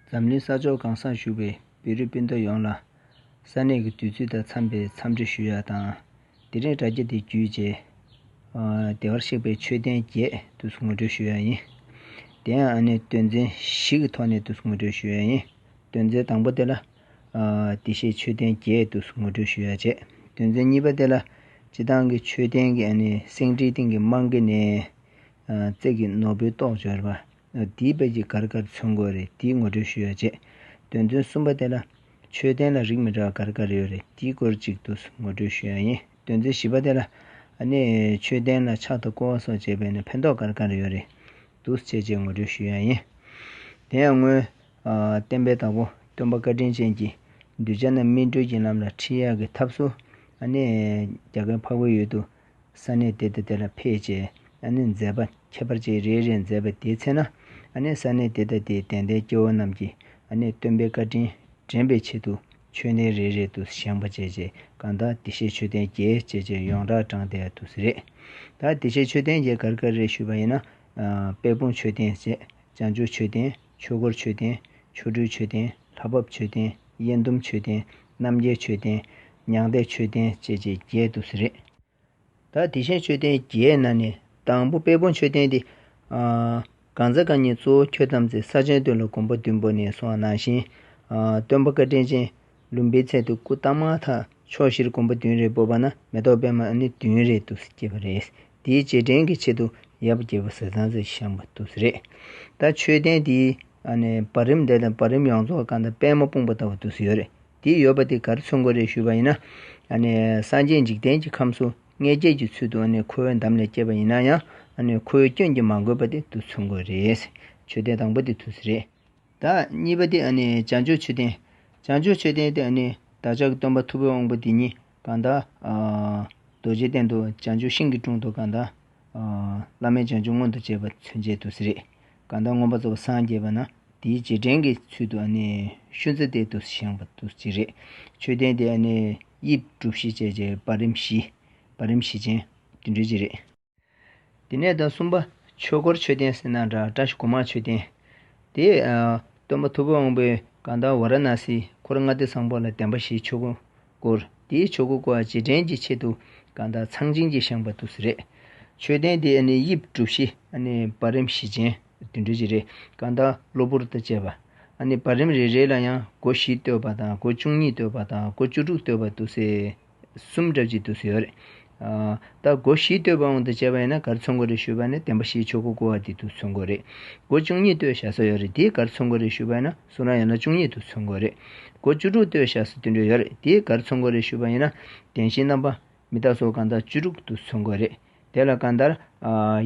འཛམ་གླིང་ས་ཕྱོགས་གང་སར་བཞུགས་པའི་བེ་རི་སྤུན་ཟླ་ཡོངས་ལ། ས་གནས་ཀྱི་དུས་ཚོད་དང་འཚམས་པའི་འཚམས་འདྲི་ཞུ་ཡག་དང། དེ་རིང་དྲ་རྒྱ་འདི་བརྒྱུད་རྗེས། བདེ་བར་གཤེགས་པའི་མཆོད་རྟེན་བརྒྱད་དུས་ངོ་སྤྲོད་ཞུ་ཡག་ཡིན། དེ་ཡང་ཨ་ནེ་སྟོན་རྩེན་བཞི་གི་ཐོག་ནས་དུས་ངོ་སྤྲོད་ཞུ་ཡག་ཡིན། སྟོན་རྩེན་དང་པོ་དེ་ལ། དེ་ཤེས་མཆོད་རྟེན་བརྒྱད་དུས་ངོ་སྤྲོད་ཞུ་ཡག་བྱས། སྟོན་རྩེན་གཉིས་པ་དེ་ལ། སྤྱི་བཏང་གི་མཆོད་རྟེན་གྱི་སེང་ཁྲིའི་སྟེང་གི་རྨང་གི་ནས། རྩེག་གི་ནོར་བུའི་ཏོག་འབྱོར་བ། འདིའི་དཔེ་ཇི་དགར་དགར་མཚོན་དགོས་རེད་འདིའི་ངོ་སྤྲོད་ཞུ་ཡ་བྱས། དོན་ཚུན་གསུམ་པ་དེ་ལ། ཆོས་ལྡན་ལ་རིགས་མི་འདྲ་བ་དགར་དགར་ཡོད་རེད་འདིའི་སྐོར་གཅིག་ཏུ་ངོ་སྤྲོད་ཞུ་ཡ་ཡིན་དོན་ཚུན་བཞི་པ་དེ་ལ། ནི། ཆོས་ལྡན་ལ་ཕྱག་ཏུ་བསྐོར་བ་སོགས་བྱས་པས་ནི་ཕན་ཐོགས་དགར་དགར་ཡོད་རེད་འདུག་བཅས་བཅས་ངོ་སྤྲོད་ཞུ་ཡ་ཡིན། དེ་ཡང་སྔོན། བསྟན་པའི་བདག་པོ་སྟོན་པ་བཀའ་དྲིན་ཅན་གྱིས། གདུལ་བྱ་རྣམས་སྨིན་གྲོལ་གྱི་ལམ་ལ་ཁྲིད་ཡ་གི་ཐབས་སུ། ནི། རྒྱ་གར་འཕགས་པའི་ཡུལ་དུ། ས་གནས་དེ་དང་དེ་ལ་ཕེབས་རྗེས་ཨ་ནེས་མཛད་པ་ཁྱད་པར་ཅན་རེ་རེ་མཛད་པ་དེའི་ཚེ་ན་ཨ་ནེས་ས་གནས་དེ་དང་དེའི་དད་ལྡན་སྐྱེ་བོ་རྣམས་ཀྱིས་ཨ་ནེས་སྟོན་པའི་བཀའ་དྲིན་དྲན་པའི་ཆེད་དུ་མཆོད་རྟེན་རེ་རེ་དུ་བཞེངས་པ་བྱས་རྗེས་བཀའ་ཟླ་བདེ་གཤེགས་མཆོད་རྟེན་རྒྱལ་བཅས་ཀྱི་ཡོངས་གྲགས་བགྲངས་ཏེ་དུ་སི་རེད་ད་བདེ་གཤེགས་མཆོད་རྟེན་རྒྱལ་གར་གར་རེ་ཞུས་པ་ཡིན་ན་དཔལ་སྤུངས་མཆོད་རྟེན་བཅས་བྱང་ཆུབ་མཆོད་རྟེན། ཆོས་སྐོར་མཆོད་རྟེན། ཆོ་འཕྲུལ་མཆོད་རྟེན། ལྷ་བབས་མཆོད་རྟེན། དབྱེན་ཟླུམ་མཆོད་རྟེན། རྣམ་རྒྱལ་མཆོད་རྟེན། མྱང་འདས་མཆོད་རྟེན་བཅས་བཅས་བརྒྱད་དུ་གཟི་རེད། ད་དེ་བཞིན་མཆོད་རྟེན་བརྒྱད་ནང་ནས་དང་པོ་དཔལ་བོ་མཆོད་རྟེན་ཏེ། གང་ཟག་གང་ཉིད་གཙོ་བོ་ཁྱོད་ཙམ་ཚེ་ས་ཆེན་སྟོད་ལ་མགོན་པོ་བདུན་པོ་ནས་སོང་བ་ནང་བཞིན། སྟོན་པ་བཀའ་དྲིན་ཅན། ལུམ་པའི་ཚད་དུ་སྐུ་བལྟམས་མ་ཐག་ཕྱོགས་བཞིར་གོམ་པ་བདུན་རེ་སྤོས་པ་ན་མེ་ཏོག་པད་མ་ནི་བདུན་རེ་ཏུ་སྐྱེས་པ་རེད། དེའི་རྗེས་དྲན་གྱི་ཆེད་དུ་ཡབ་རྒྱལ་པོ་ཟས་གཙང་སྲས་ཤམ་པ་ཏུ་རེད། ད་མཆོད་རྟེན་དེའི་བར་རིམ་འདས་དང་བར་རིམ་ཡོངས་རྫོགས་སྐར་མདའ་པད་མ་སྤུངས་པ་ལྟ་བུ་ཏུ་ཡོད་རེད། དེ་ཡོད་པ་དེ་གར་ཚུར་འགོ་རེ་ཞུས་པ་ཡིན་ན། སངས་རྒྱས་འཇིག་རྟེན་གྱི་ཁམས་སུ་མངལ་སྐྱེས་ཀྱི་ཚུལ་དུ་ཁོའི་འདམ་ལས་སྐྱེས་པ་ཡིན་ན་ཡང་ཁོའི་སྐྱོན་གྱིས་མ་གོས་པ་དེ་ཏུ་ཚུར་འགོ་རེད། མཆོད་རྟེན་དང་པོ་དེ་ཏུ་རེད། བདག་གཉིས་པ་སྟེ་བྱང་ཆུབ་མཆོད་རྟེན། བྱང་ཆུབ་མཆོད་རྟེན་ཏེ་བདག་ཅག་གི་སྟོན་པ་མཐུ་བོའི་དབང་པོ་འདི་ཉིད་གང་དག། རྡོ་རྗེའི་གདན་དུ་བྱང་ཆུབ་ཤིང་གི་དྲུང་དུ་གང་དག། བླ་མེད་བྱང་ཆུབ་མངོན་དུ་བྱེད་པ་ཚུན་ཆད་དུ་སྲིད། གང་དག་མངོན་པར་རྫོགས་པར་སངས་རྒྱས་པ་ན་དེའི་རྗེས་དྲན་གྱི་ཚུལ་དུ་ཤུན་རྩི་གཏེར་དུ་བཞེངས་པ་དུ་བྱེད། མཆོད་རྟེན་དེ་དབྱིབས་གྲུ་བཞི་བཅས་ཀྱི་བར་རིམ་བཞི། བར་རིམ་བཞི་ཅན། དུ་འབྲེལ་བྱེད། དེ་ནས་དང་གསུམ་པ། ཆོས་འཁོར་མཆོད་རྟེན་སེར་ནག་འདྲ་བཀྲ་ཤིས་གོང་མ་མཆོད་རྟེན། དེ། སྟོན་པ་ཐུ་བོ་དབང་པོའི་དགའ་ཟླ་ཝཱ་ར་ན་སིའི་འཁོར་ལྔ་སྡེ་བཟང་པོ་ལ་བདེན་པ་བཞིའི་ཆོས་སྐུ་བསྐོར། དེའི་ཆོས་སྐུ་བསྐོར་བ་རྗེས་དྲན་གྱི་ཆེད་དུ་དགའ་ཟླ་ཚངས་བྱིན་གྱིས་བཞེངས་པ་ཏུ་སི་རེད། མཆོད་རྟེན་དེ་དབྱིབས་གྲུ་བཞི་བར་རིམ་བཞི་ཅན་དུད་འགྲོ་བཞི་རེ་དགའ་ཟླ་གློ་བུར་དང་བཅས་པ། བར་རིམ་རེ་རེ་ལ་ཡང་སྒོ་བཞི་བཏོད་པ་དང་སྒོ་བཅུ་གཉིས་བཏོད་པ་དང་སྒོ་བཅུ་དྲུག་བཏོད་པ་ཏུ་སི། གསུམ་བསྒྲབ་ཅིང་དུ་ཟེར་བ་རེད། ད་སྒོ་བཞི་བསྟོད་པ་འོང་དུ་བཅས་པ་ཡིན་ན་སྒར་ཚོང་སྒོ་རེ་ཞུས་པ་ནི་བདེན་པ་བཞིའི་ཆོས་སྒོ་བསྐོར་བ་དེ་དུ་ཚོང་སྒོ་རེད། སྒོ་བཅུ་གཉིས་བསྟོད་བཞག་སོགས་ཡོད་རེད་དེའི་སྒར་ཚོང་སྒོ་རེ་ཞུས་པ་ཡིན་ན་སུ་རང་ཡོད་ན་བཅུ་གཉིས་དུ་ཚོང་སྒོ་རེད། སྒོ་བཅུ་དྲུག་བསྟོད་བཞག་སུ་དུད་འགྲོ་ཡོད་རེད་དེའི་སྒར་ཚོང་སྒོ་རེ་ཞུས་པ་ཡིན་ན་བདེན་བཞིའི་རྣམ་པ། མི་རྟག་སོགས་གང་དག་བཅུ་དྲུག་དུ་ཚོང་སྒོ་རེད། དེ་ལ་གང་ལྟར།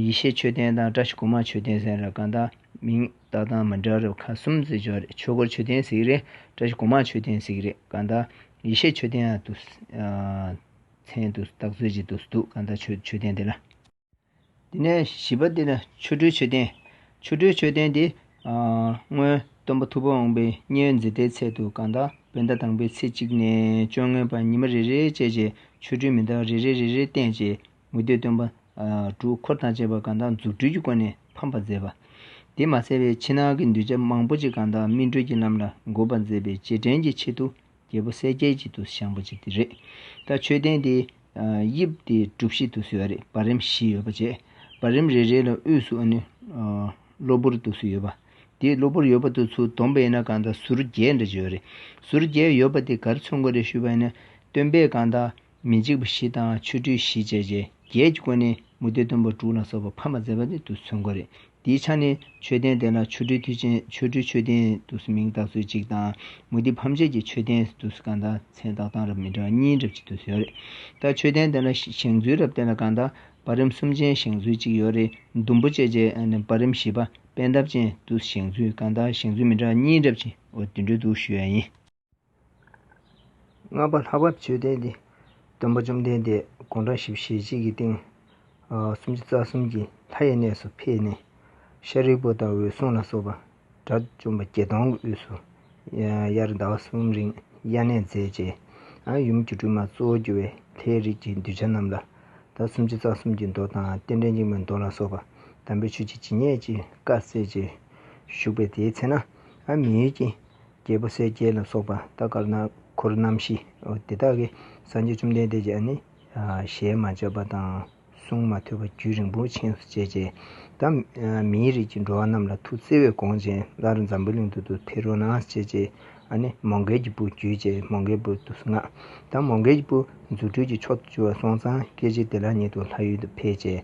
ཡེ་ཤེས་མཆོད་རྟེན་དང་བཀྲ་ཤིས་གོང་མ་མཆོད་རྟེན་ཟེར་ན་གང་དག་མིང་བཏགས་དང་མི་འདྲ་རབས་ཁ་གསུམ་བརྩི་ཆོག་རེད་ཆོས་སྒོར་མཆོད་རྟེན་ཟིག་རེད་བཀྲ་ཤིས་གོང་མ་མཆོད་རྟེན་ཟིག་རེད་གང་དག་ཡེ་ཤེས་མཆོད་རྟེན་དུ། མཚན་དུ་བཏགས་མཛོད་ཅིག་ཏུ་འདུག་གང་དག་ཆོས་མཆོད་རྟེན་དེ་ལ། དེ་ནས་བཞི་པ་དེ་ལ་ཆོ་འཕྲུལ་མཆོད་རྟེན། ཆོ་འཕྲུལ་མཆོད་རྟེན་དེ། སྔོན་སྟོན་པ་ཐུབ་པ་འོངས་པའི་བསྙེན་མཛད་ལྟའི་ཚད་དུ་གང་དག་བན་དྷ་དང་པོའི་ཚེས་གཅིག་ནས་བཅོ་ལྔའི་བར་ཉི་མ་རེ་རེའི་བཅད་བྱས་ཆོ་འཕྲུལ་མི་འདའ་བ་རེ་རེ་རེ་རེ་བསྟན་རྗེས། མུ་སྟེགས་སྟོན་པ། དྲུག་འཁོར་དང་བཅས་པ་གང་དག་རྫུ་འཕྲུལ་གྱི་སྒོ་ནས་ཕམ་པར་མཛད་པ། དེས་མ་ཚད་པའི་ཕྱི་ནང་གི་འདུས་བྱས་མང་པོ་ཅིག་གང་དག་སྨིན་གྲོལ་གྱི་ལམ་ལ་འགོད་པར་མཛད་པའི་རྗེས་དྲན་གྱི་ཆེད་དུ་རྒྱལ་པོ་གསལ་རྒྱལ་གྱི་དུ་བཞེངས་པ་ཅིག་དེ་རེད། ད་མཆོད་རྟེན་དེ་དབྱིབས་དེ་གྲུབ་བཞི་དུ་བཟོས་པ་རེད་བར་རིམ་བཞི་ཡོད་པ་བཅས་བར་རིམ་རེ་རེ་ལ་དབུས་སུ་ཨནི་གློ་བུར་དུ་སུ་ཡོད་པ། དེས་གློ་བུར་ཡོད་པ་དུ་ཚུར་སྡོམ་པ་ཡིན་ན་གང་དག་ཟུར་བརྒྱད་འདྲ་བྱོས་རེད་ཟུར་བརྒྱད་ཡོད་པ་དེ་གར་ཚུར་འགོད་རེ་ཞུས་པ་ཡིན་ན་སྟོན་པས་གང་དག་མི་འཇིགས་པ་བཞི་དང་ཆོ་འཕྲུལ་བཞི་བཅས་ཆེ་རྒྱལ་གྱི་སྐུ་ནི་མུ་སྟེགས་འདུན་པ་དྲུག་ལ་སོགས་པ་ཕམ་པར་མཛད་པ་ནི་དུ་སུ་འགོ་རེད། འདིའི་ཆ་ནི་མཆོད་རྟེན་དེ་ལ་ཆོ་འཕྲུལ་མཐུ་ཆེན་ཆོ་འཕྲུལ་མཆོད་རྟེན་དུ་སུ་མིང་བཏགས་ཚུལ་གཅིག་དང། མུ་སྟེགས་ཕམ་བྱེད་ཀྱི་མཆོད་རྟེན་དུ་སུ་གང་དག་མཚན་བཏགས་གཏང་རབས་མི་འདྲ་བ་གཉིས་རབས་གཅིག་དུ་སུ་ཡོད་རེད། ད་མཆོད་རྟེན་དེ་ལ་བཞེངས་ཚུལ་རབས་དེ་ལ་གང་དག་བར་རིམ་གསུམ་ཅན་བཞེངས་ཚུལ་གཅིག་ཡོད་རེད་ཟླུམ་པོ་བཅས་ཀྱི་བར་རིམ་བཞི་པ་པད་འདབ་ཅན་དུ་སུ་བཞེངས་ཚུལ་གང་དག་བཞེངས་ཚུལ་མི་འདྲ་བ་གཉིས་རབས་གཅིག་འོ་དུད་འགྲོའི་དུ་སུ་ཡོད་ཡིན། ལྔ་པ་ལྷ་བབས་མཆོད་རྟེན་འདི། སྟོན་པ་བཅོམ་ལྡན་འདས་དགུང་གྲངས་བཞི་བཞི་ཞེ་གཅིག་གི་སྟེང། སུམ་ཅུ་རྩ་གསུམ་གྱི་ལྷ་ཡི་གནས་སུ་ཕེབས་ནས། ཤཱ་རིའི་བུ་དང་འོད་སྲུང་ལ་སོགས་པ་དགྲ་བཅོམ་པ་བརྒྱད་སྟོང་གི་དབུས་སུ། དབྱར་ཟླ་བ་གསུམ་རིང་དབྱར་གནས་མཛད། རྗེ་འམ་ཡུམ་གྱི་སྒྲོལ་མ་གཙོ་བོར་གྱུར་བའི་ལྷའི་རིགས་ཀྱི་གདུལ་བྱ་རྣམས་ལ། སུམ་ཅུ་རྩ་གསུམ་གྱི་མདོ་དང་རྟེན་འབྲེལ་འཇིགས་མེད་མདོ་ལ་སོགས་པ་དམ་པའི་ཆོས་ཀྱི་ཇི་སྙེད་ཅིག་བཀའ་སྩལ་ཅིང་བཞུགས་པས་དེའི་ཚེ་ན་མི་ཡུལ་གྱི། རྒྱལ་པོ་གསལ་རྒྱལ་ལ་སོགས་པ་རྟ་དཀར་ནག་འཁོར་རྣམ་བཞི། དེ་དག་གིས་སངས་རྒྱས་བཅོམ་ལྡན་འདས་ཀྱིས་ནི། ཞལ་མ་བཅབས་པ་དང་གསུང་མ་ཐོས་པ་རྒྱུད་རིང་པོ་འཆིང་སུ་བཅད་ཅེས། ད་མིའི་རིགས་ཀྱི་འགྲོ་བ་རྣམས་ལ་ཐུགས་བརྩེ་བས་དགོངས་ཅན་སླར་འཛམ་བུའི་གླིང་དུ་དུ་དྷི་རོ་ནང་བསྐྱེད་ཅེས། མོ་མགལ་གྱི་བུ་རྒྱུད་ཅེས་མོ་མགལ་བུ་དུ་སུ་ངག། ད་མོ་མགལ་གྱི་བུ་རྫུ་འཕྲུལ་གྱི་མཆོག་ཏུ་གྱུར་བ་སྲོང་བཙན་སྐྱེས་རྗེ་དེ་ལ་ཉིད་དུ་ལྷ་ཡུལ་དུ་ཕེབས་ཅེས།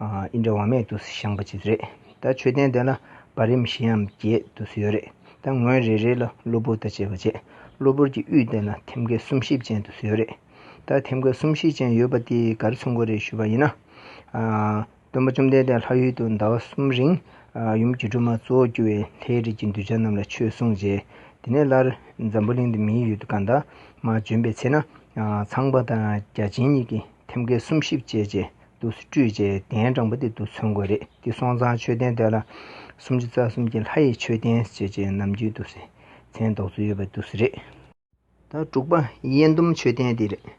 ཨིན་དྲ་བ་མེད་དུ་བཞེངས་པ་ཅིག་རེད་ད་མཆོད་རྟེན་དེ་ལ་བར་རིམ་བཞིའམ་བརྒྱད་དུ་ཡོད་རེད་ད་ངོས་རེ་རེ་ལ་གློ་བུར་དང་བཅས་པ་བཅས་གློ་བུར་གྱི་དབུས་སྟེང་ལ་ཐེམ་སྐས་གསུམ་བཞི་ཅན་དུ་ཡོད་རེད་ད་ཐེམ་སྐས་གསུམ་བཞི་ཅན་ཡོད་པ་དེའི་གར་ཚུར་འགོ་རེ་ཞུས་པ་ཡིན་ན། སྟོན་པ་བཅོམ་ལྡན་འདས་ལྷ་ཡུལ་དུ་ཟླ་བ་གསུམ་རིང་ཡུམ་གྱི་སྒྲོལ་མ་གཙོ་བོར་གྱུར་བའི་ལྷའི་རིས་ཀྱི་གདུལ་བྱ་རྣམས་ལ་ཆོས་གསུངས་རྗེས་དེ་ནས་སླར་འཛམ་བུ་གླིང་དུ་མིའི་ཡུལ་དུ་བཀའ་འདབ་མ་བྱོན་པའི་ཚེ་ན་ཚངས་པ་དང་བརྒྱ་བྱིན་གཉིས་ཀྱིས་ཐེམ་སྐས་གསུམ་བཞི་བཅས་བཅས། དུ་སྤྲོས་བཅས་གདན་དྲངས་པ་དེ་དུ་མཚོན་དགོས་རེད་དེ་སོང་ཙང་མཆོད་རྟེན་དེ་ལ་སུམ་ཅུ་རྩ་གསུམ་གྱི་ལྷ་ཡི་མཆོད་རྟེན་ཞེས་བཅས་ནམ་རྒྱུན་དུ་སེམས་ཅན་རྟོགས་ཚུལ་ཡོད་པ་དུ་རེད། ད་དྲུག་པ་ཡེ་འདུམ་མཆོད་རྟེན་དེ་རེད།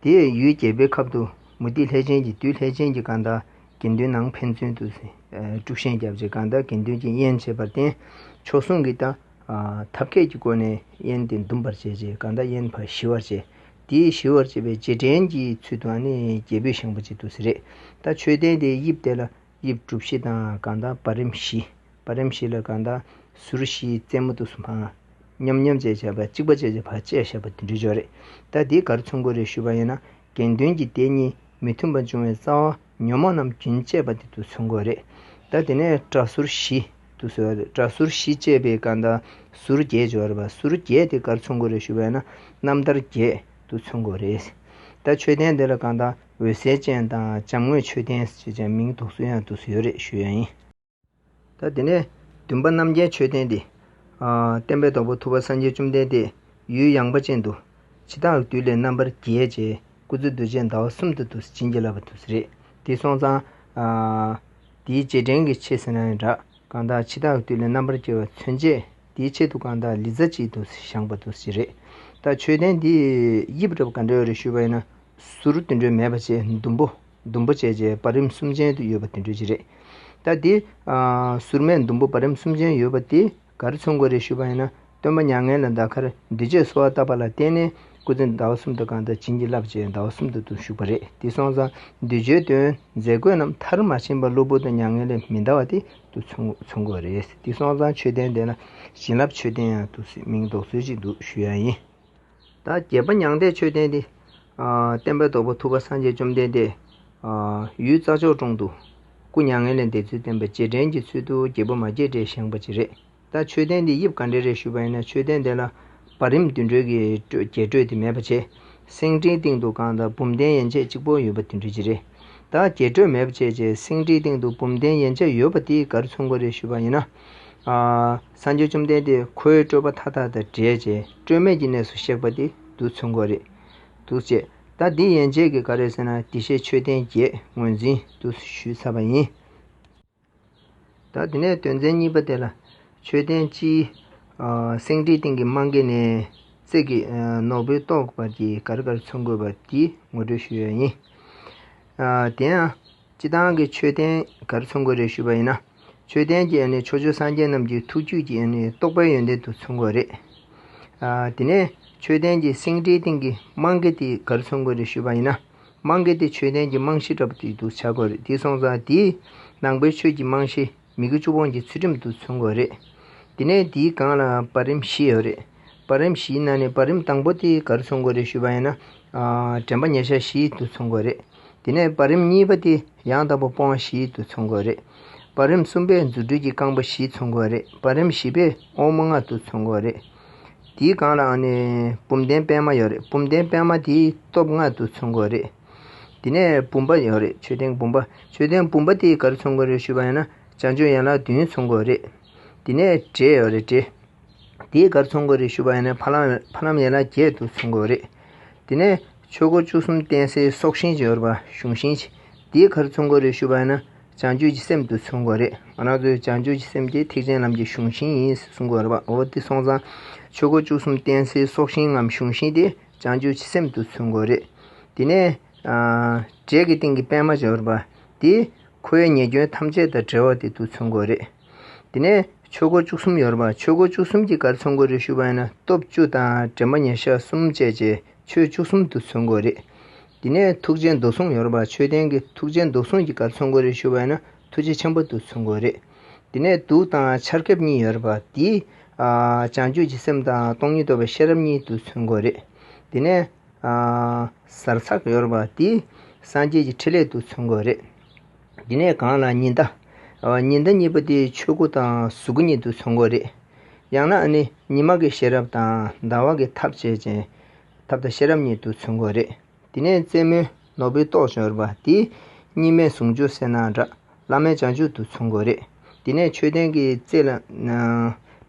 དེ་ཡུལ་རྒྱལ་པོའི་ཁབ་དུ་མུ་ཏིག་ལྷས་བྱིན་གྱིས་བདུད་ལྷས་བྱིན་གྱི་སྐར་མདའ་དགེ་འདུན་ནང་ཕན་ཚུན་དུ་དཀྲུག་ཤིང་བརྒྱབ་རྗེས་སྐར་མདའ་དགེ་འདུན་གྱིས་དབྱེན་བྱས་པར་བརྟེན་ཕྱོགས་ཟུང་གིས་ཐབས་མཁས་ཀྱི་སྒོ་ནས་དབྱེན་ཏེ་འདུམ་པར་བྱས་རྗེས་སྐར་མདའ་དབྱེན་པ་ཞི་བར་བྱས། དེས་ཞི་བར་བྱེད་པའི་རྗེས་དྲན་གྱི་ཚུལ་དུའང་ནི་རྒྱལ་པོས་བཞེངས་པར་བྱེད་དུ་ཟེར། ད་མཆོད་རྟེན་དེའི་དབྱིབས་དེ་ལ་དབྱིབས་གྲུ་བཞི་དང་གང་དག་བར་རིམ་བཞི། བར་རིམ་བཞི་ལ་གང་དག་ཟུར་བཞིའི་རྩེ་མོ་དུ་སུམ་བྷ། མཉམ་མཉམ་བཅས་བྱ་བ་གཅིག་པ་བཅས་བྱ་བ་བཅས་བཞག་པ་དུད་འགྲོའི་ཆོ་རེད། ད་དེའི་གར་མཚུངས་གོ་རེ་ཞུས་པ་ཡིན་ན་དགེ་འདུན་གྱི་དེ་གཉིས་མི་མཐུན་པ་འབྱུང་བའི་རྩ་བ། ཉོན་མོངས་རྣམས་རྒྱུན་བཅད་པ་འདི་དུ་ཚོད་མགོ་རེད། ད་དེ་ནས་སྐྲ་ཟུར་བཞི་དུ་ཟོས་པ་རེད། སྐྲ་ཟུར་བཞི་བཅད་པའི་སྐར་མདའ་ཟུར་བརྒྱད་བྱོ་རེད། ཟུར་བརྒྱད་དེ་སྐར་ཚོད་མགོ་རེད་ཞུ་བས་ན་རྣམ་ཐར་བརྒྱད་དུ་ཚོད་མགོ་རེད། ད་མཆོད་རྟེན་འདི་ལ་སྐར་མདའ་འོད་གསལ་ཅན་དང་བྱམས་དངོས་མཆོད་རྟེན་ཞེས་བྱ་མིང་དུག་སུ་ཡང་དུ་ཟོས་རེད་ཞུ་ཡ་ཡིན། ད་དེ་ནས་བདུན་པ་རྣམ་རྒྱལ་མཆོད་རྟེན་ཏེ། བསྟན་པའི་རྡོག་པོ་ཐུབ་པ་སངས་རྒྱས་བཅོམ་ལྡན་འདས་ཡུལ་ཡངས་པ་ཅན་དུ། ཇི་ལྟར་བདུད་ལས་རྣམ་པར་རྒྱལ་བྱས་སྐུ་ཚེ་རྡོ་རྗེ་ཟླ་བ་གསུམ་དུ་དུ་བྱིན་གྱིས་བརླབས་པ་དུ་རེད་དེ་སོང་ཙང། དེའི་རྗེས་དྲན་གྱི་ཆེད་ཟེར་ན་ཡང་འདྲ། གང་དག་འཆི་བདག་བདུད་ལས་རྣམ་པར་རྒྱལ་བ་མཚོན་ཆས་དེའི་ཆེད་དུ་གང་དག་ལི་ཙཱ་གཅིག་དུ་བཞག་པ་དུ་ཞིག་རེད། ད་མཆོད་རྟེན་འདི་དབྱིབས་རབ་དགའ་འགྲེལ་བ་རེ་ཞུས་པ་ཡིན་ན། ཟུར་བདུན་སྒྲོན་མེ་པ་ཅན་ཟླུམ་པོ། ཟླུམ་པོ་བཅས་བཅས་བར་རིམ་གསུམ་ཅན་དུ་ཡོད་པ་དེ་འགྲོས་ཀྱི་རེད། ད་དེ། སུར་མས་ཟླུམ་པོ་བར་རིམ་གསུམ་ཅན་ཡོད་པ་དེ་ག་རེ་མཚོན་དགོས་རེད་ཞུས་པ་ཡིན་ན། སྟོན་པ་མྱ་ངན་ལས་འདའ་ཁར་འདུས་བྱས་གསོལ་བ་བཏབ་པ་ལ་བརྟེན་ནས་སྐུ་ཚེ་ཟླ་བ་གསུམ་དུ་གང་དག་བྱིན་གྱིས་བརླབས་བྱས་ཟླ་བ་གསུམ་དུ་དུ་བཞུགས་པ་རེད་དེ་སོང་ཙང་འདུས་བྱས་དོན་མཛད་དགོས་རྣམས་མཐར་མ་ཕྱིན་པར་གློ་བུར་དུ་མྱ་ངན་ལས་མི་འདའ་བ་དེ་དུ་མཚོན་དགོས་རེད་དེ་སོང་ཙང་མཆོད་རྟེན་འདི་ན་བྱིན་རླབས་མཆོད་རྟེན་ཡང་དུ་སུས་མིང་འདོགས་ཚུལ་ཅིག་འདུག་ཞུས་ཡ་ཡིན། ད་རྒྱལ་པོ་མྱང་འདས་མཆོད་རྟེན་འདི། བསྟན་པའི་རྡོ་པོ་ཐུབ་པ་སངས་རྒྱས་བཅོམ་ལྡན་འདས། ཡུལ་རྩ་མཆོག་དྲུང་དུ་སྐུ་མྱ་ངན་ལས་འདས་ཚུལ་བསྟན་པའི་རྗེས་དྲན་གྱི་ཚུལ་དུ་རྒྱལ་པོ་མ་སྐྱེས་དགྲས་བཞེངས་པ་ཅི་རེད་ད་མཆོད་རྟེན་འདི་དབྱིབས་ག་འདྲའི་རེད་ཞུས་པ་ཡིན་ན་མཆོད་རྟེན་དེ་ལ་བར་རིམ་བདུན་འགྲོས་ཀྱི་རྒྱས་སྤྲོས་དེ་མེད་པ་ཆེ། སེང་ཁྲིའི་སྟེང་དུ་རྐང་དང་བུམ་གདན་ཡན་ཆད་གཅིག་པོ་ཡོད་པ་དེ་འདྲས་ཅི་རེད་ད་རྒྱས་སྤྲོས་མེད་པ་ཆེ་ཆེ་སེང་ཁྲིའི་སྟེང་དུ་བུམ་གདན་ཡན་ཆད་ཡོད་པ་དེ་གར་མཚོན་གོ་རེད་ཞུས་པ་ཡིན་ན། སངས་རྒྱས་བཅོམ་ལྡན་འདས་ཁོའི་སྤྲོས་པ་མཐའ་དག་དང་བྲལ་ཅིང་སྤྲོས་མེད་ཀྱི་གནས་སུ་གཤེགས་པ་འདི་རྡུལ་ཚོན་གོ་རེ། འདུག་ཅེས་ད་འདི་ཡན་ཆད་ཀྱིས་ག་རེ་ཟེར་ན་འདི་ཤེས་ཆོས་ལྡན་བརྒྱད་ངོས་འཛིན་དུ་ཞུས་ཚར་བ་ཡིན། ད་འདི་ནས་དོན་ཚན་གཉིས་པ་དེ་ལ། ཆོས་ལྡན་སྤྱིའི། སེང་ཁྲིའི་སྟེང་གི་རྨང་གི་ནས། རྩེག་གི། ནོར་བུའི་ཏོག་བར་གྱིས་གར་གར་ཚོན་དགོས་པ་འདི་ངོ་སྤྲོད་ཞུ་ཡས་ཡིན། དེ་ཡང། སྤྱི་བཏང་གི་མཆོད་རྟེན་གར་ཚུར་འགོད་རེ་ཞུས་པ་ཡིན་ན། མཆོད་རྟེན་གྱི་ཡོན་ཏན་ཕྱོགས་བཅུའི་སངས་རྒྱས་རྣམས་ཀྱི་ཐུགས་བཅུད་ཀྱི་རྟོགས་པའི་ཡོན་ཏན་དུ་ཚུར་འགོད་རེ། དེ་ནས་མཆོད་རྟེན་གྱི་སེང་ཁྲིའི་སྟེང་གི་རྨང་གི་སྟེགས་གར་ཚུར་འགོད་རེ་ཞུས་པ་ཡིན་ན། རྨང་གི་སྟེགས་མཆོད་རྟེན་གྱི་རྨང་གཞི་ལྟ་བུ་དེ་དུ་བྱ་དགོས་རེ། དེའི་སོང་ཙང་དེའི་ནང་པའི་ཆོས་ཀྱི་རྨང་གཞི། མི་དགུ་བཅུ་གོང་གི་ཚུལ་ཁྲིམས་དུ་མཚོན་དགོས་རེད། དེ་ནས་དེའི་སྒང་ལ་བར་རིམ་བཞི་ཡོད་རེད། བར་རིམ་བཞིའི་ནང་ནས་བར་རིམ་དང་པོ་དེ་གར་མཚོན་དགོས་རེད་ཞུས་པ་ཡིན་ན། དྲན་པ་ཉེ་ཤ་བཞི་དུ་མཚོན་དགོས་རེད། དེ་ནས་བར་རིམ་གཉིས་པ་དེ་ཡང་དང་པོ་སྤོང་བ་བཞི་དུ་མཚོན་དགོས་རེད། བར་རིམ་གསུམ་པས་རྫུ་འཕྲུལ་གྱི་རྐང་པ་བཞི་མཚོན་དགོས་རེད་བར་རིམ་བཞི་པས་དབང་མོ་ལྔ་དུ་མཚོན་དགོས་རེད། དེའི་སྒང་ལའང་ནི་བུམ་གདན་པདྨ་ཡོད་རེད་བུམ་གདན་པདྨ་དེའི་སྟོབས་ལྔ་དུ་མཚོན་དགོས་རེད། དེ་ནས་བུམ་པ་ཡོད་རེད་མཆོད་རྟེན་བུམ་པ་མཆོད་རྟེན་བུམ་པ་དེའི་གར་ཚོང་དགོས་རེད་ཞུས་པ་ཡང་ན་བྱང་ཆུ་ཡན་ལག་བདུན་ཚོང་དགོས་རེད། དེ་ནས་བྲེ་ཡོད་རེད་བྲེ་དེའི་གར་ཚོང་དགོས་རེད་ཞུས་པ་ཡང་ན་ཕ་ལམ་ཕ་ལམ་ཡན་ལག་བརྒྱད་དུ་ཚོང་དགོས་རེད། དེ་ནས་ཆོས་སྒོ་བཅུ་གསུམ་བསྟན་སའི་སྲོག་ཤིང་ཅིག་ཡོད་རེད་པ་གཞུང་ཤིང་ཅིག་དེའི་གར་ཚོང་དགོས་རེད་ཞུས་པ་ཡང་ན་བྱང་ཆུ་གྱི་སེམས་དུ་ཚོང་དགོས་རེད་ང་རང་ཚོའི་བྱང་ཆུ་གྱི་སེམས་དེ་ཐེག་ཆེན་ལམ་གྱི་གཞུང་ཤིང་ཡིན་གསུང་དགོས་རེད་པ་འོ་དེ་སོང་ཙང་ཆོས་སྒོ་བཅུ་གསུམ་བསྟན་སའི་སྲོག་ཤིང་ངམ་གཞུང་ཤིང་དེ་བྱང་ཆུབ་ཀྱི་སེམས་དུ་ཚུད་དགོས་རེད། དེ་ནས། དྲེག་གི་སྟེང་གི་པད་མ་འབྱོར་པ། དེ། ཁོ་བོའི་ཉེས་སྐྱོན་ཐམས་ཅད་དང་བྲལ་བ་དེ་དུ་ཚུད་དགོས་རེད། དེ་ནས། ཆོས་སྒོ་བཅུ་གསུམ་ཡོར་པ་ཆོས་སྒོ་བཅུ་གསུམ་གྱི་གར་ཚུད་དགོས་རེད་ཞུ་བ་ཡིན་ན་སྟོབས་བཅུ་དང་དྲན་པ་ཉེར་ཞག་གསུམ་བཅས་བཅས་ཆོས་བཅུ་གསུམ་དུ་ཚུད་དགོས་རེད། དེ་ནས་ཐུགས་རྗེའི་མདོ་གཟུངས་ཡོར་པ་ཆོས་ལྡན་གྱི་ཐུགས་རྗེའི་མདོ་གཟུངས་ཀྱི་གར་ཚུད་དགོས་རེད་ཞུ་བ་ཡིན་ན་ཐུགས་རྗེ་ཆེན་པོ་དུ་ཚུད་དགོས་རེད། དེ་ནས་དུག་དང་ཆར་ཁབ་གཉིས་ཡོད་རེད་པ་དེས་བྱང་ཆུབ་ཀྱི་སེམས་དང་སྟོང་ཉིད་རྟོགས་པའི་ཤེས་རབ་གཉིས་དུ་མཚོན་དགོས་རེད། དེ་ནས་ཟར་ཚགས་ཡོད་རེད་པ་དེས་སངས་རྒྱས་ཀྱི་ཕྲིན་ལས་དུ་མཚོན་དགོས་རེད། དེ་ནས་གང་ལ་ཉི་ཟླ། ཉི་ཟླ་གཉིས་པོ་དེས་ཆོས་སྐུ་དང་གཟུགས་སྐུ་གཉིས་དུ་མཚོན་དགོས་རེད། ཡང་ན་ནི་ཉི་མ་གི་ཤེས་རབ་དང་ཟླ་བ་གི་ཐབས་བྱེད་ཅིང་ཐབས་དང་ཤེས་རབ་གཉིས་དུ་མཚོན་དགོས་རེད། དེ་ནས་རྩེ་མོའི་ནོར་བུའི་ཏོག་ཅན་རུ་པ་དེས་གཉིས་མེད་ཟུང་འཇུག་གསལ་སྣང་བསྒྲགས། བླ་མའི་བྱང་ཆུབ་ཏུ་མཚུངས་དགོས་རེད། དེ་ནས་མཆོད་རྟེན་གྱི་རྩེ་ལ།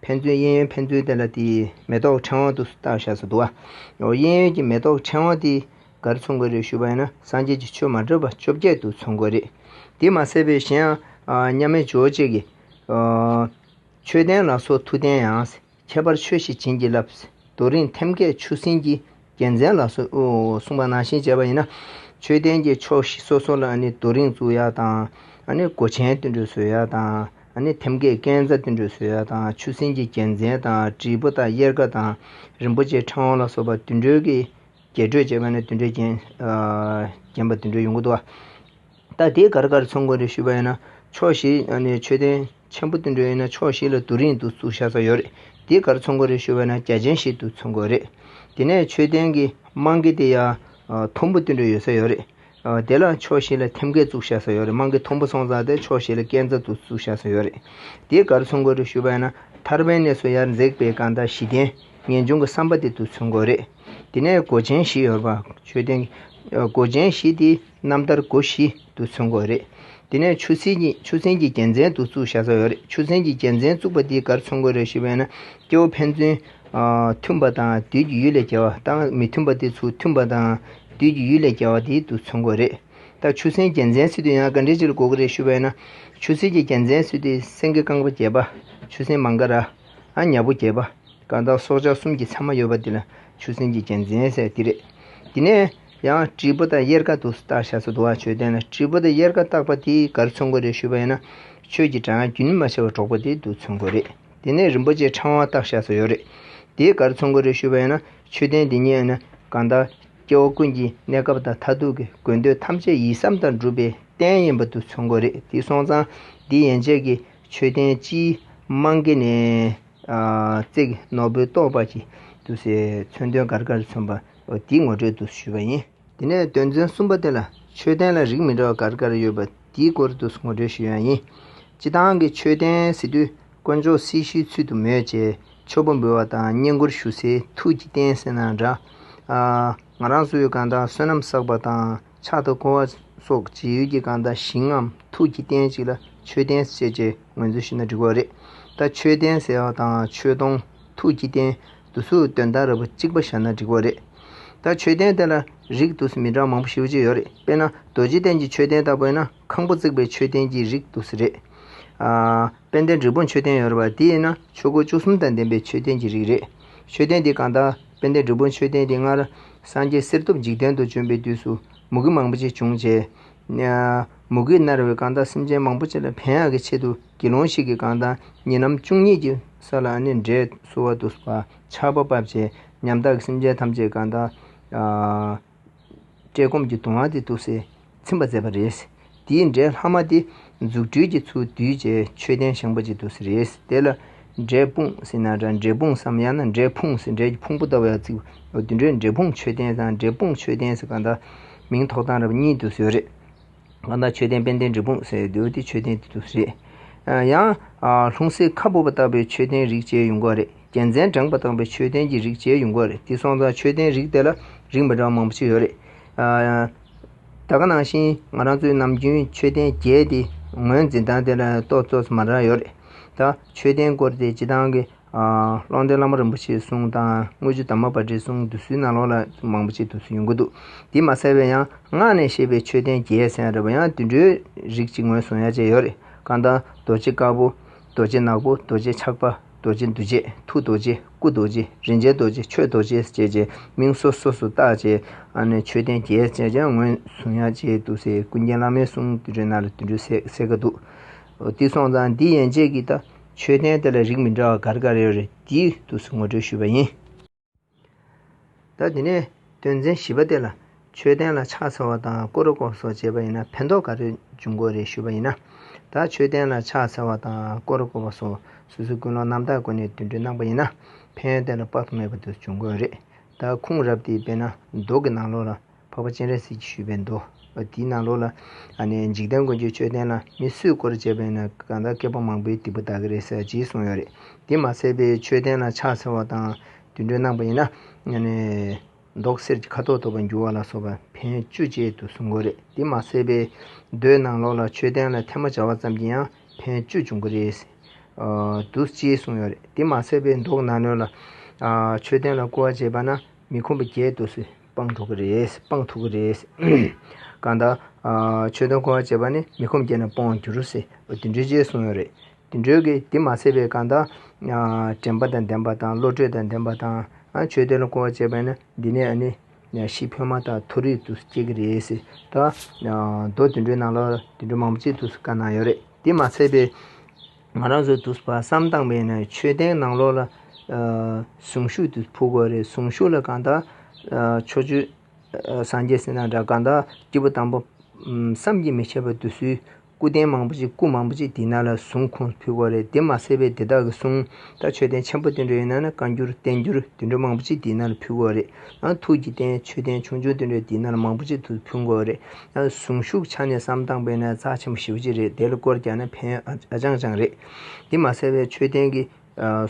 ཕན་ཚུན་གཡས་གཡོན་ཕན་ཚུན་བསྟན་ལ་དེའི་མེ་ཏོག་ཕྲེང་བ་དུ་བཏགས་བཞག་སུ་འདུག་ཨ། གཡས་གཡོན་གྱི་མེ་ཏོག་ཕྲེང་བ་དེས་གར་མཚུངས་དགོས་རེད་ཞུས་པ་ཡིན་ན་སངས་རྒྱས་ཀྱི་ཆོས་མ་འདྲེས་པ་བཅོ་བརྒྱད་དུ་མཚུངས་དགོས་རེད། དེ་མ་ཟད་པའི་གཞན་ཡང། མཉམ་མེད་ཇོ་བོ་རྗེས་ཀྱི། མཆོད་རྟེན་ལ་སོགས་མཐུ་ལྡན་ཡང། ཁྱད་པར་ཆོས་ཤིག་བྱིན་གྱིས་བརླབས། རྡོ་རིང་ཐེམ་སྐས་ཆུ་སྲིན་གྱི་རྒྱལ་མཚན་ལ་སོགས་པ་ནང་བཞིན་བྱས་པ་ཡིན། མཆོད་རྟེན་གྱི་ཕྱོགས་བཞི་སོ་སོ་ལ་རྡོ་རིང་བཙུགས་ཡ་དང། སྒོ་ཆེན་བསྟུད་འགྲོས་བཟོས་ཡ་དང། ཐེམ་སྐས་རྐན་རྩ་བསྟུད་འགྲོས་བཟོས་ཡ་དང་ཆུ་སྲིན་གྱི་རྒྱལ་མཚན་དང་དྲིལ་བུ་དང་གཡེར་ཀ་དང་རིན་པོ་ཆེའི་ཕྲེང་བ་ལ་སོགས་པ་བསྟུད་འགྲོས་ཀྱིས་རྒྱས་སྤྲོས་བྱས་པ་ནི་བསྟུད་འགྲོས་བརྒྱན་པ་བསྟུད་འགྲོས་ཡོངས་ཀྱི་བསྟོད་པ། ད་དེ་གར་གར་ཚོང་དགོན་རེ་ཞུས་པ་ཡིན་ན་ཕྱོགས་བཞི་ནས་མཆོད་རྟེན་ཆེན་པོ་བསྟུན་འགྲོ་ཡིན་ན་ཕྱོགས་བཞི་ལ་དུ་རིང་དུ་བཙུགས་ཤག་ས་ཡོད་རེད་དེ་གར་ཚོང་དགོན་རེ་ཞུ་བ་ཡིན་ན་རྒྱ་ཆེན་ཞིག་ཏུ་ཚོང་དགོས་རེད་དེ་ནས་མཆོད་རྟེན་གྱི་རྨང་གི་དེ་ཡང་དུམ་བུ་བསྟུན་འགྲོ་ཡོད་ས་ཡོད་རེད་དེ་ལ་ཕྱོགས་བཞི་ལ་ཐེམ་སྐས་བཙུགས་ཤག་ས་ཡོད་རེད་རྨང་གི་དུམ་བུ་སོང་ཙང་དེ་ཕྱོགས་བཞི་ལ་སྐས་འཛབ་ཏུ་བཙུགས་ཤག་ས་ཡོད་རེད་དེ་གར་ཚོང་དགོན་རེ་ཞུས་པ་ཡིན་ན་ཐར་པའི་གནས་སུ་ཡར་འཛེགས་པའི་གང་དག་བཞི་ལྡན་ངེས་འབྱུང་གི་བསམ་པ་དེ་ཏུ་ཚོང་དགོས་རེད། དེ་ནས་སྒོ་ཆེན་བཞི་ཡོད་པ་མཆོད་རྟེན་གྱི་སྒོ་ཆེན་བཞི་དེའི་རྣམ་ཐར་སྒོ་བཞི་དུ་མཚོན་དགོས་རེད། དེ་ནས་ཆུ་སྲིན་གྱི་ཆུ་སྲིན་གྱི་རྒྱལ་མཚན་དུ་བཙུགས་བཞག་ས་ཡོད་རེད་ཆུ་སྲིན་གྱི་རྒྱལ་མཚན་བཙུགས་པ་དེའི་གར་མཚོན་དགོས་རེད་ཞེས་པས་ན་སྐྱེ་བོ་ཕན་ཚུན། མཐུན་པ་དང་བདུད་ཀྱི་ཡུལ་ལས་རྒྱལ་བ་དང་མི་མཐུན་པ་དེ་ཚུལ་མཐུན་པ་དང་བདུད་ཀྱི་ཡུལ་ལས་རྒྱལ་བ་དེའི་དུ་མཚོན་དགོས་རེད། ད་ཆུ་སྲིན་རྒྱལ་མཚན་སྲིད་དུ་ཡང་ག་འདྲའི་ཆེར་དགོས་ཀྱི་རེད་ཞུས་པས་ན། ཆུ་སྲིན་གྱི་རྒྱལ་མཚན་སྲིད་དུ་སེང་གེ་རྐང་པ་བརྒྱད་པ། ཆུ་སྲིན་མང་ཀ་ར། ཨ་མྱག་པོ་བརྒྱད་པ། དཀར་འདམ་སྲོག་ཆགས་གསུམ་གྱི་མཚན་མ་ཡོད་པ་འདི་ལ་ཆུ་སྲིན་གྱི་རྒྱལ་མཚན་ཟེར་བ་འདི་རེད། དེ་ནས་ཡང་དྲིལ་བུ་དང་གཡེར་ཀ་དུ་བཏགས་ཤ་ཚ་དུ་བ་ཆོས་ལྡན་ལ་དྲིལ་བུ་དང་གཡེར་ཀ་བཏགས་པ་དེའི་གར་ཚོན་གོ་རེ་ཞུས་པ་ཡིན་ན་ཁྱོད་ཀྱི་དྲང་རྒྱུན་མ་ཆད་པར་འགྲོགས་པ་དེ་དུ་ཚོན་གོ་རེད་དེ་ནས་རིན་པོ་ཆེ་ཕྲེང་བ་བཏགས་ཤ་ཚ་ཡོད་རེད་དེའི་གར་ཚོན་གོ་རེ་ཞུས་པ་ཡིན་ན་ཆོས་ལྡན་འདི་ཉིད་ནི་གང་དག་སྐྱེ་བོ་ཀུན་གྱི་གནས་སྐབས་དང་མཐར་ཐུག་གི་དགོས་འདོད་ཐམས་ཅད་ཡིད་བསམ་དང་འགྲུབ་པའི་རྟེན་ཡིན་པ་དུ་ཚོན་གོ་རེད་དེ་སོང་ཙང་འདི་ཡན་ཆད་ཀྱི་ཆོས་ལྡན་སྤྱིའི་རྨང་གི་ནས། བརྩེགས་ནོར་བུའི་ཏོག་འབར་གྱིས་བསྡུས་སའི་མཚོན་དོན་གར་གར་མཚོན་པ་འདིའི་ངོ་སྤྲོད་དུ་ཞུས་པ་ཡིན། དེ་ནས་དོན་ཚན་གསུམ་པ་དེ་ལ་མཆོད་རྟེན་ལ་རིགས་མི་འདྲ་བ་གར་གར་ཡོད་པ་དེའི་སྐོར་དུ་ངོ་སྤྲོད་ཞུས་ཡང་ཡིན། སྤྱི་བཏང་གི་མཆོད་རྟེན་ཟེར་དུས་དཀོན་མཆོག་སྲི་ཞུའི་ཚུལ་དུ་མོས་བཅས་མཆོད་པ་འབུལ་བ་དང་བསྙེན་བཀུར་ཞུ་སའི་ཐུགས་ཀྱི་རྟེན་ཟེར་ན་འདྲ། ང་རང་སུ་ཡོད་གང་དག་བསོད་ནམས་བསགས་པ་དང། ཕྱག་ཏུ་བསྐོར་བ་སོགས་ཇི་ཡོད་ཀྱི་གང་དག་ཞིང་ངམ་ཐུགས་ཀྱི་རྟེན་ཞིག་ལ་མཆོད་རྟེན་ཟེར་ཅེས་ངོས་འཛིན་ཞུས་ན་འགྲིག་པ་རེད། ད་མཆོད་རྟེན་ཟེར་བ་དང་མཆོད་སྡོང། ཐུགས་ཀྱི་རྟེན། དུ་སུ་སྟོན་ཟླ་ར་བུ་གཅིག་པ་བཞག་ན་འགྲིག་པ་རེད། ད་མཆོད་རྟེན་དེ་ལ་རིགས་དུ་སི་མི་འདྲ་མང་པོ་ཞིབ་ཅིག་ཡོད་རེད་དཔེར་ན་རྡོ་རྗེ་གདན་གྱི་མཆོད་རྟེན་ལྟ་བུ་ན་ཁང་བུ་བརྩིགས་པའི་མཆོད་རྟེན་གྱི་རིགས་དུ་སི་རེད། དཔལ་ལྡན་འབྲས་བུ་མཆོད་རྟེན་ཡོད་རེད་པ་དེ་ཡིན་ན་ཆོས་སྒོ་བཅུ་གསུམ་དང་ལྡན་པའི་མཆོད་རྟེན་གྱི་རིགས་རེད། མཆོད་རྟེན་དེ་གང་དག་དཔལ་ལྡན་སྒྲུབ་པོ་མཆོད་རྟེན་གྱི་སྔར། སངས་རྒྱས་གསེར་ཐུབ་འཇིག་རྟེན་དུ་བྱོན་པའི་དུས་སུ། མུ་གེ་མང་པོ་ཅི་བྱུང་བྱས། མུ་གེས་མནར་བའི་གང་དག་སེམས་ཅན་མང་པོ་ཅི་ལ་ཕན་ཡག་གི་ཆེད་དུ་དགེ་སློང་ཞིག་གིས་གང་དག་ཉིན་ནམ་བཅུ་གཉིས་ཀྱི་ས་ལ་ནི་འབྲས་གསོལ་བ་དུ་བ་ཕྱག་པ་བབས་བྱས། ཉམ་ཐག་གི་སེམས་ཅན་ཐམས་ཅད་གང་དག། བཀྲེས་སྐོམ་གྱི་གདུང་བ་དེ་སྟུག་སེ་ཚིམ་པར་མཛད་པ་རེད། འདིའི་འབྲས་ལྷག་མ་དེ་རྫུ་འཕྲུལ་གྱི་ཚུལ་བསྡུས་བྱའི་མཆོད་རྟེན་བཞེངས་པ་ཅིག་ཏུ་ཟེར་རེད། དེ་ལ་འབྲས་སྤུངས་ཟེར་ན་འདྲ་འབྲས་སྤུངས་སམ་ཡང་ན་འབྲས་ཕུང་ཟེར་འབྲས་ཀྱི་ཕུང་པོ་ལྟ་བུ་ཡང་བརྩི་བ་དུད་འགྲོའི་འབྲས་སྤུངས་མཆོད་རྟེན་དང་འབྲས་སྤུངས་མཆོད་རྟེན་ཟེར་གང་དག་མིང་ཐོགས་སྟངས་རབ་གཉིས་ཏུ་བཟོས་རེད། ང་བདག་མཆོད་རྟེན་དཔལ་ལྡན་འབྲས་སྤུངས་སེ་འདོད་དེ་མཆོད་རྟེན་དུ་རེད། ཡང། ལྷུང་བཟེད་ཁ་སྦུབ་པ་བཏགས་པའི་མཆོད་རྟེན་རིགས་བཅས་ཡོང་གི་རེད། རྒྱལ་མཚན་བསྒྲེངས་པ་བཏགས་པའི་མཆོད་རྟེན་གྱི་རིགས་བཅས་ཡོང་གི་རེད་དེ་སོང་ཙང་མཆོད་རྟེན་རིགས་དེ་ལ་རིགས་མི་འདྲ་བ་མང་པོ་ཞིག་ཡོད་རེད། ད་ག་ནང་བཞིན་ང་རང་ཚོའི་ནམ་རྒྱུན་མཆོད་རྟེན་བརྒྱད་དེ་ངོས་འཛིན་སྟངས་དེ་ལ་རྟོག་བཟོ་ཚོད་མ་འདྲ་ཡོད་རེད། ད། མཆོད་རྟེན་སྐོར་དེ་སྤྱི་སྟངས་ཀྱི། ཀློང་རྡོལ་བླ་མ་རིན་པོ་ཆེའི་གསུང་དང་དངུལ་ཆུ་དྭངས་མ་པ་འདྲའི་གསུང་དུ་སུའི་ནང་ལོགས་ལ་མང་པོ་ཆེ་དུ་སུ་ཡོང་གི་འདུག་འདི་མ་གསལ་བས་ཡང་སྔགས་ནས་བཤད་པའི་མཆོད་རྟེན་རྒྱལ་ས་ཡང་རེད་བ་ཡང་དུད་འགྲོའི་རིགས་ཅིག་ངོས་བཟུང་ཡ་བཅས་ཡོད་རེད་ཀ་འདང་རྡོ་རྗེ་དཀར་པོ་རྡོ་རྗེ་ནག་པོ་རྡོ་རྗེ་ཆགས་པ་རྡོ་རྗེ་འདུལ་བྱེད་ཐུགས་རྡོ་རྗེ་སྐུ་རྡོ་རྗེ་རིན་ཆེན་རྡོ་རྗེ་ཆོས་རྡོ་རྗེ་བཅས་ཀྱི་མིང་སོ་སོ་སུ་བཏགས་རྗེས་མཆོད་རྟེན་རྒྱལ་བཅས་ཀྱང་ངོས་བཟུང་ཡ་བཅས་འདུག་སེ་ཀུན་མཁྱེན་བླ་མའི་གསུང་དུད་འགྲོའི་ནང་ལ་དུད་འགྲོའི་ཟས་ཟས་ཀ་འདུག་དེ་སོང་ཙང་འདི་ཡན་ཆད་ཀྱི་ད། མཆོད་རྟེན་དེ་ལ་རིགས་མི་འདྲ་བ་འགར་འགར་ཡོད་རེད་དེའི་དུས་སུ་ངོ་སྤྲོད་ཞུས་པ་ཡིན། ད་དེ་ནས་དོན་ཚན་བཞི་པ་དེ་ལ་མཆོད་རྟེན་ལ་ཕྱག་འཚལ་བ་དང་སྐོར་སྐོར་སོགས་བྱེད་པ་ཡིན་ན་ཕན་ཐོགས་ག་རེ་འབྱུང་དགོས་རེད་ཞུས་པ་ཡིན། ད་མཆོད་རྟེན་ལ་ཕྱག་འཚལ་བ་དང་སྐོར་སྐོར་བ་སོགས་སུ་སུ་ཀུན་སློང་རྣམ་དག་སྒོ་ནས་དུད་འགྲོས་གནང་པ་ཡིན་ན་ཕན་ཡོན་དེ་ལ་དཔག་ཏུ་མེད་པ་དུ་འབྱུང་དགོས་རེད། ད་ཁུངས་རབས་དེའི་དཔེ་ན་མདོག་གི་ནང་ལོགས་ལ། འཕགས་པ་སྤྱན་རས་གཟིགས་ཀྱིས་ཞུས་པའི་མདོ་དེའི་ནང་ལོགས་ལ། འཇིག་རྟེན་མགོན་ཁྱོད་མཆོད་རྟེན་ལ་མི་གསོད་སྐོར་བྱས་པས་ན་གང་དག་བསྐལ་པ་མང་པོའི་སྡིག་པ་དག་གི་རེ་ས་ཡང་བགྱིས་གསུངས་ཡོད་རེད། དེ་མ་ཟད་པའི་མཆོད་རྟེན་ལ་ཕྱག་འཚལ་བ་དང་དུད་འགྲོའི་གནང་བ་ཡིན་ན། མདོག་གསེར་གྱི་ཁ་དོག་ཐོབ་པར་འགྱུར་བ་ལ་སོགས་པ་ཕན་བཅུ་བཅས་དུ་གསུང་དགོས་རེད། དེ་མ་ཟད་པའི་མདོའི་ནང་ལོགས་ལ་མཆོད་རྟེན་ལ་ཐལ་མོ་སྦྱར་བ་ཙམ་གྱིས་ཡང་ཕན་བཅུ་འབྱུང་གི་རེད་དུ་ཅེས་གསུངས་ཡོད་རེད། དེ་མ་ཟད་པའི་མདོག་ནག་ནོད་ལ། མཆོད་རྟེན་ལ་བསྐུར་བ་བྱས་པ་ན་མི་ཁོམ་པ་བརྒྱད་དུ་སུས་སྤང་ཐུབ་ཀྱི་རེད། སྤང་ཐུབ་ཀྱི་རེད། གང་ལྟར། ཆོས་དོན་གོ་བར་བྱེད་པ་ནི་མི་ཁོམ་སྐྱེས་ན་སྤོང་བར་འགྱུར་སྲིད། དུད་འགྲོའི་རྗེས་གསུངས་ཡོད་རེད། དུད་འགྲོའི་གི་དེ་མ་ཚད་པའི་གང་ལྟར། དྲན་པ་དང་ལྡན་པ་དང་བློ་གྲོས་དང་ལྡན་པ་དང། ཆོས་དོན་ལ་གོ་བར་བྱེད་པ་ནི་འདི་ནས་ནི། ཤི་འཕོས་མ་ཐག་མཐོ་རིས་དུ་སྐྱེས་ཀྱི་རེད། ད། མདོ་དུད་འགྲོའི་ནང་ལ་དུད་འགྲོ་མང་པོ་ཅིག་ཏུ་དཀའ་སྣང་ཡོད་རེད། དེ་མ་ཚད་པའི། ང་རང་ཚོའི་དུས་བསམ་སྟངས་པས་ནི་ཆོས་ལྡན་ནང་ལོག་ལ་ཟུངས་ཤུགས་དེ་ཕུལ་དགོས་རེད་ཟུངས་ཤུགས་ལ་གང་དག་ཕྱོགས་བཅུའི་སངས་རྒྱས་སེམས་དང་འདྲ་གང་དག་སྐྱེས་བུ་དང་པོ་བསམ་གྱིས་མི་ཁྱབ་པ་དུ་སུའི་སྐུ་རྟེན་མང་པོ་ཅིག་སྐུ་མང་པོ་ཅིག་འདི་ན་ལ་ཟུངས་ཁུངས་ཕུལ་དགོས་རེད་དེ་མ་ཟད་པའི་འདི་དག་གི་གསུང་དང་ཆོས་ལྡན་ཆེན་པོ་དུད་འགྲོ་ཡིན་ན་ནི་བཀའ་འགྱུར་བསྟན་འགྱུར་དུད་འགྲོ་མང་པོ་ཅིག་འདི་ན་ལ་ཕུལ་དགོས་རེད་ཨང་ཐུགས་ཀྱི་རྟེན་ཆོས་ལྡན་ཆུང་ཆུང་དུད་འགྲོ་འདི་ན་ལ་མང་པོ་ཅིག་ཐུགས་ཕུལ་དགོས་རེད་གཟུངས་གཞུག་ཆ་ནས་བསམ་སྟངས་དཔེ་ན་རྩ་ཆེན་པོ་ཞི་བ་གཅིག་རེད་དེ་ལ་བསྐོར་རྒྱག་ན་ཕན་ཨ་ཅང་ཅང་རེད། འདི་མ་གསལ་བས་མཆོད་རྟེན་གྱི་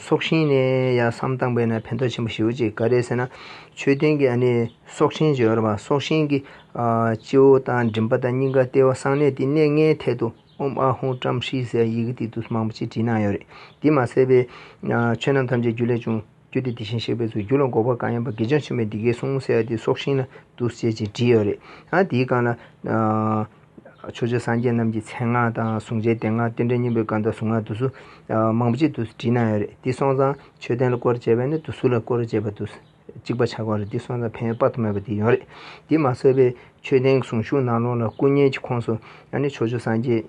སྲོག་ཤིང་ནས་ཡང་བསམ་སྟངས་དཔེ་ན་ཕན་ཐོགས་ཆེན་པོ་ཞི་བ་གཅིག་ག་རེད་ཟེར་ན། མཆོད་རྟེན་གྱི་ཨ་ནི་སྲོག་ཆེན་བརྗོད་ཡོད་རེད་བ་སྲོག་ཤིང་གི་སྤྱི་བོ་དང་མགྲིན་པ་དང་སྙིང་ག་ལྟེ་བ་གསང་གནས་དེ་གནས་ལྔའི་ཐད་དུ་ཨོམ་ཨ་ཧུང་ཀྲམ་ཧྲི་ཟེར་ཡི་གེ་དེ་དུས་མང་པོ་ཅིག་བྲིས་གནང་ཡོད་རེད་འདི་མ་གསལ་བས། ཆོས་རྣམས་ཐམས་ཅད་རྒྱུ་ལས་བྱུང། བསྐྱོད་དེ་དེ་བཞིན་གཤེགས་པའི་ཚུལ་གྱུར་ལ་འགོག་པ་གང་ཡིན་པ་དགེ་སྦྱོང་ཆེན་མོས་འདི་སྐད་གསུངས་ཟེར་བ་དེ་སྲོག་ཤིང་ལ་འདུ་ཤེས་ཅེས་བྲིས་ཡོད་རེད། ཡང་དེའི་སྒང་ལ། ཆོས་རྗེ་སངས་རྒྱས་རྣམས་ཀྱི་མཚན་སྔགས་དང་གཟུངས་ཆེན་བདེ་སྔགས་རྟེན་འབྲེལ་སྙིང་པོའི་སྐབས་དང་གཟུངས་སྔགས་བསྡུ་ཚུལ། མང་པོ་ཅིག་ཏུ་བྲིས་གནང་ཡོད་རེད་འདི་སོང་ཙང་ཆོས་ལྡན་ལ་སྐོར་བྱེད་པས་ནི་བསྡུ་ཚུལ་ལ་སྐོར་བྱེད་པ་དུ་གཅིག་པ་ཆགས་ཀྱི་རེད་འདི་སོང་ཙང་ཕན་ཡོན་དཔག་ཏུ་མེད་པ་དེ་ཡོང་རེད། འདི་མ་བསལ་བའི་ཆོས་ལྡན་གཟུངས་གཞུག་ནང་ལོགས་ལ་སྐུ་བརྙན་གྱི་ཁོངས་སུ་ཡང་ནི་ཆོས་རྗེ་སངས་རྒྱས།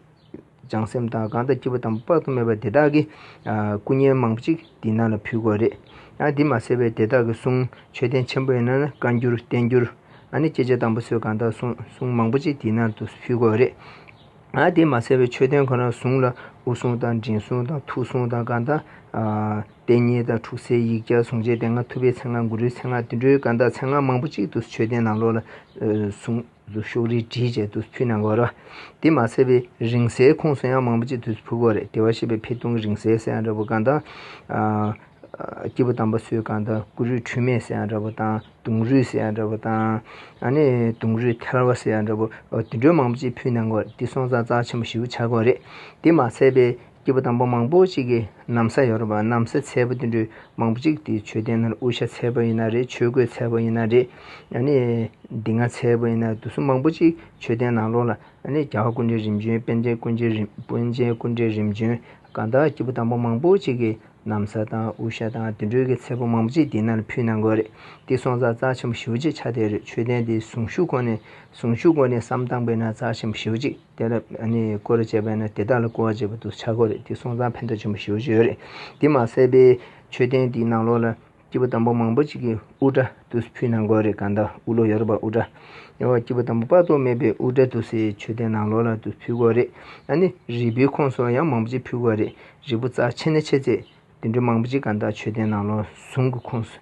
བྱང་སེམས་དང་གང་དག་སྐྱེས་བུ་དང་པོ་དཔག་ཏུ་མེད་པ་དེ་དག་གིས་སྐུ་བརྙན་མང་པོ་ཅིག་འདི་ན་ལ་ཕུལ་དགོས་རེད། ཡང་འདི་མ་བསད་པས་དེ་དག་གི་གསུང་མཆོད་རྟེན་ཆེན་པོ་ཡིན་ན་ནི་བཀའ་འགྱུར་བསྟན་འགྱུར། ཨ་ནི་སྐྱེས་ཆེན་དང་པོ་ཚོས་གང་དག་གསུང་གསུང་མང་པོ་ཅིག་འདི་ན་དུ་ཕུལ་དགོས་རེད། ཡང་འདི་མ་བསད་པས་མཆོད་རྟེན་ཁོ་ན་བཟུང་ལ་དབུ་གསུང་དང་མགྲིན་གསུང་དང་ཐུགས་གསུང་དང་གང་དག། གཏད་རྙེད་དང་འཁྲུགས་སའི་ཡིག་བརྒྱ་ཟུང་བཅས་དེ་སྔ་ཐུབ་པའི་ཚེ་སྔགས་གུ་རུའི་ཚེ་སྔགས་དུད་འགྲོའི་གང་དག་ཚེ་སྔགས་མང་པོ་ཅིག་ཏུ་མཆོད་རྟེན་ནང་ལོགས་ལ་གསུང། གཟུགས་ཤོག་རིལ་བྲིས་བཅས་དུས་སུ་ཕུལ་ན་འགོར། དེ་མ་ཟད་པའི་རིང་བསྲེལ་ཁུངས་སུ་ཡང་མང་པོ་ཅིག་དུས་སུ་ཕུལ་དགོས་རེད་དེ་བ་ཞེས་པའི་འཕེལ་གཏོང་གི་རིང་བསྲེལ་ཟེར་ཡང་འདྲ་བོ་གང་དང། སྐྱེས་བུ་དམ་པ་སུའི་གང་དང་ཀུ་རུའི་འཁྲུལ་མེད་ཟེར་ཡང་འདྲ་བོ་དང་དུང་རུས་ཟེར་ཡང་འདྲ་བོ་དང། དུང་རུས་ཐལ་བ་ཟེར་ཡང་འདྲ་བོ་དེ་འདྲའི་མང་པོ་ཅིག་ཕུལ་ན་འགོར་དེ་སོང་ཙང་རྩ་ཆེན་པོ་བཞི་བོ་ཆགས་དགོས་རེད་དེ་མ་ཟད་པའི། སྐྱེས་བུ་དང་པོ་མང་པོ་ཅིག་གིས་གནམ་ས་ཡོ་རོབ་པ་གནམ་སའི་ཚལ་པོ་དེ་འདྲུད་མང་པོ་ཅིག་དེའི་མཆོད་རྟེན་ནང་དབུ་ཞྭ་ཚལ་པོ་ཡིན་ན་རེད་ཆོས་གོས་ཚལ་པོ་ཡིན་ན་རེད་ནི་འདི་ང་ཚལ་པོ་ཡིན་ན་དུ་སུ་མང་པོ་ཅིག་མཆོད་རྟེན་ནང་ལོགས་ལ་ནི་རྒྱ་བ་ཀུན་འདྲེ་རིམ་བྱོན་དཔལ་ཆེན་ཀུན་འདྲེ་རིམ་དཔོན་ཆེན་ཀུན་འདྲེ་རིམ་བྱོན་གང་དག་སྐྱེས་བུ་དང་པོ་མང་པོ་ཅིག་གིས་གནམ་ས་དང་དབུ་ཞྭ་དང་དེ་འདྲུད་ཀྱི་ཚལ་པོ་མང་པོ་ཅིག་དེའི་ནང་ལ་ཕུལ་གནང་དགོས་རེད་དེ་སོང་ཙང་རྩ་ཆེན་པོ་ཞི་བ་གཅིག་ཆ་དེ་རེད་མཆོད་རྟེན་དེའི་གཟུངས་གཞུག་ཁོ་ནས་གཟུངས་གཞུག་གོ་ནས་སམ་བཏང་པའི་ནང་རྩ་ཆེན་པོ་ཞི་བ་གཅིག། དེ་ལ་བསྐོར་བྱས་པས་ན་དེ་དག་ལ་བསྐོར་བ་བྱས་པ་དུ་ཆ་གོ་རེ་འདི་སོང་ཙང་ཕན་ཐོགས་ཆེན་པོ་ཞུ་བ་བྱོས་རེ། འདི་མ་ཟད་པའི་མཆོད་རྟེན་འདིའི་ནང་ལོགས་ལ་སྐྱེས་བུ་དང་པོ་མང་པོ་ཅིག་གི་དབུ་སྐྲ་དུ་ཕུལ་ན་འགོ་རེ་གང་དག་དབུ་ལོ་ཡོ་རོབ་པ་དབུ་སྐྲ་ཡོང་བ་སྐྱེས་བུ་དང་པོ་དཔག་ཏུ་མེད་པའི་དབུ་སྐྲ་དུ་སའི་མཆོད་རྟེན་ནང་ལོགས་ལ་དུ་ཕུལ་གོ་རེ། རིལ་བུའི་ཁོངས་སུ་ཡང་མང་པོ་ཅིག་ཕུལ་གོ་རེ་རིལ་བུ་རྩ་ཆེ་ནས་ཆེ་ཚད། དུད་འགྲོ་མང་པོ་ཅིག་གང་དག་མཆོད་རྟེན་ནང་ལོགས་ཟུང་གི་ཁོངས་སུ་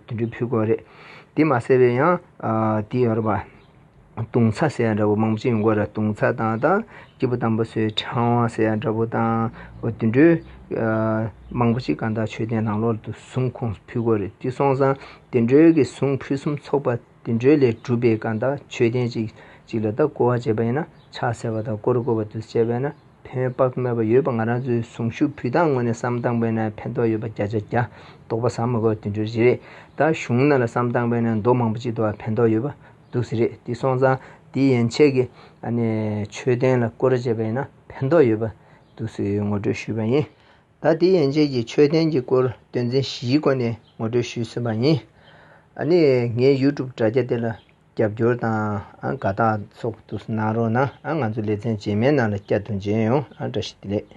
དུད་འགྲོའི་ཕུད་སྐོར་རེད། དེ་མ་ཟད་པའི་ཡང་དེ་ཡོད་རེད་པ། དུང་ཚ་ཟེར་ཡ་འདྲ་བོ་མང་པོ་ཅིག་ཡོང་གོ་རེད་དུང་ཚ་དང་དང་སྐྱེས་བུ་དམ་པོ་སོའི་ཕྲེང་བ་ཟེར་ཡ་འདྲ་བོ་དང་དུད་འགྲོའི་མང་པོ་ཅིག་གང་དག་མཆོད་རྟེན་ནང་ལོགས་དུད་ཟུང་ཁོངས་སུ་ཕུད་སྐོར་རེད་དེ་སོང་ཙང་དུད་འགྲོའི་གི་ཟུང་ཕུད་གསུམ་ཚོགས་པ་དེ་འགྲོས་ལས་གྲུབ་པའི་སྐབས་དང་ཆོས་ལྡན་ཅིག་ཅིག་ལ་དག་བསྐོར་བ་བྱེད་པ་ཡིན་ན་ཕྱག་འཚལ་བ་དང་བསྐོར་བསྐོར་བ་དུ་བྱས་པས་ན་ཕན་པ་སྨོས་པ་ཡོད་པ་ང་རང་ཚོའི་གཟུངས་གཞུག་ཕུད་དང་ངོས་ནས་བསམ་སྟངས་པས་ན་ཕན་ཐོགས་ཡོད་པ་བརྒྱ་ཆ་བརྒྱ་དོགས་པ་ཟ་མ་གོ་དེ་འགྲོས་རེད་ད་གཞུང་ན་ལ་བསམ་སྟངས་པས་ན་མདོ་མང་པོ་ཅིག་དུའང་ཕན་ཐོགས་ཡོད་པ་འདུག་ཟེར་རེད་དེ་སོང་ཙང་དེ་ཡན་ཆད་ཀྱི་ཆོས་ལྡན་ལ་བསྐོར་བྱེད་པས་ན་ཕན་ཐོགས་ཡོད་པ་འདུག་ཟེར་ངོ་སྤྲོད་ཞུས་པ་ཡིན། ད་དེ་ཡན་ཆད་ཀྱི་མཆོད་རྟེན་གྱི་སྐོར་དོན་ཚན་བཞིའི་སྒོ་ནས་ངོ་སྤྲོད་ཞུས་ཟིན་པ་ཡིན། ཨ་ནི་ངའི YouTube དྲ་རྒྱ་དེ་ལ་རྒྱབ་སྐྱོར་དང་དགའ་རྟགས་སོགས་ཏུ་གནང་རོགས་གནང་ང་ཚོ་ལེ་ཚན་རྗེས་མའི་ནང་ལ་བསྐྱར་དུ་མཇལ་ཡོང་བཀྲ་ཤིས་བདེ་ལེགས།